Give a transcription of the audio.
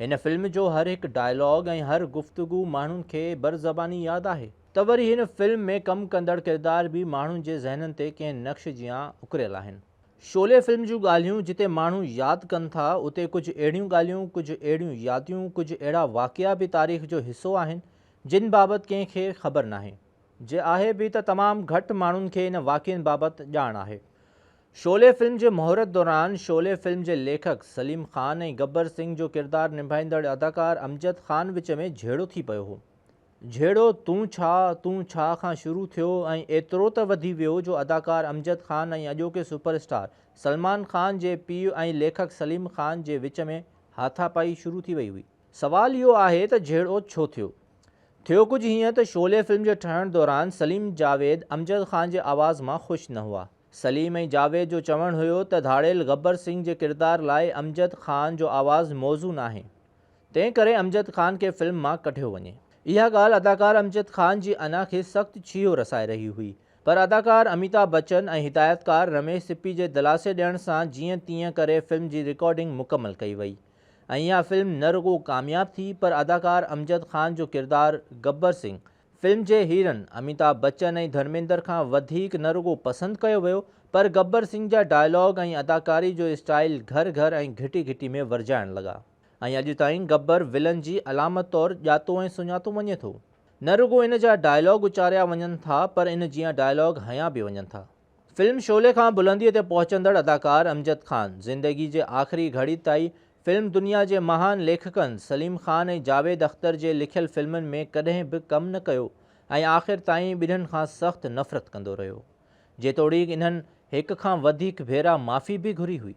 هن فلم جو هر هڪ ڊائلاگ ۽ هر گفتگو ماڻهن کي بر زباني ياد آهي. ته وري هن فلم ۾ ڪم ڪندڙ ڪردار به ماڻهن جي ذهنن تي ڪنهن نقش جيان اڪريل آهن. شعلي فلم جون ڳالهيون جتي ماڻهو ياد ڪن ٿا اتي ڪجهه اهڙيون ڳالهيون، ڪجهه اهڙيون ياديون، ڪجهه اهڙا واقعا به تاريخ جو حصو آهن جن بابت ڪنهن کي خبر ناهي. جي آهي به ته تمام گهٽ ماڻهن کي ان واقعن بابت ڄاڻ آهي. شعلي فلم جي مهورت دوران شعلي فلم جي ليکڪ سليم خان ۽ گبر سنگهه جو ڪردار نڀائيندڙ اداڪار امجد خان وچ ۾ جهيڙو ٿي پيو هو. جهيڙو تون ڇا تون ڇا کان شروع ٿيو ۽ ايترو ته وڌي ويو جو اداڪار امجد خان ۽ اڄوڪي سپر اسٽار سلمان خان جي پيء ۽ ليکڪ سليم خان جي وچ ۾ هاٿاپائي شروع ٿي وئي هئي. سوال اهو آهي ته جهيڙو ڇو ٿيو؟ ٿيو ڪجهه هيئن ته شعلي فلم جي ٺهڻ دوران سليم جاويد امجد خان جي آواز مان خوش نه هئا. سليم ۽ جاويد جو چوڻ هيو ته ڌاڙيل غبر سنگهه جي ڪردار لاء امجد خان جو آواز موزون آهي، تنهن ڪري امجد خان کي فلم مان ڪڍيو وڃي. اها ڳالهه اداڪار امجد خان جي انا کي سخت ڇيهو رسائي رهي هئي، پر اداڪار اميتاڀ بچن ۽ هدايتڪار رميش سپي جي دلاسي ڏيڻ سان جيئن تيئن ڪري فلم جي رڪارڊنگ مڪمل ڪئي وئي ۽ اها فلم نه رڳو ڪامياب ٿي پر اداڪار امجد خان جو ڪردار غبر سنگهه فلم جي هيرن اميتاڀ بچن ۽ ڌرميندر کان وڌيڪ نه رڳو پسند ڪيو ويو پر گبر سنگهه جا ڊائلاگ ۽ اداڪاري جو اسٽائيل گهر گهر ۽ گهٽي گهٽي ۾ ورجائڻ لڳا ۽ اڄ تائين گبر ولن جي علامت طور ڄاتو ۽ سڃاتو وڃي ٿو. نه رڳو ان جا ڊائلاگ اچاريا وڃن ٿا پر ان جيان ڊائلاگ هنيا به وڃن ٿا. فلم شعلي کان بلنديء تي پهچندڙ اداڪار امجد خان زندگي جي آخري گهڙي تائين فلم دنيا جي مهان ليکڪن سليم خان ۽ جاويد اختر جي لکيل فلمن ۾ ڪڏهن به ڪم نه ڪيو ۽ آخر تائين ٻنهن کان سخت نفرت ڪندو رهيو. جيتوڻيڪ انهن هڪ کان وڌيڪ ڀيرا معافي به گهري هئي.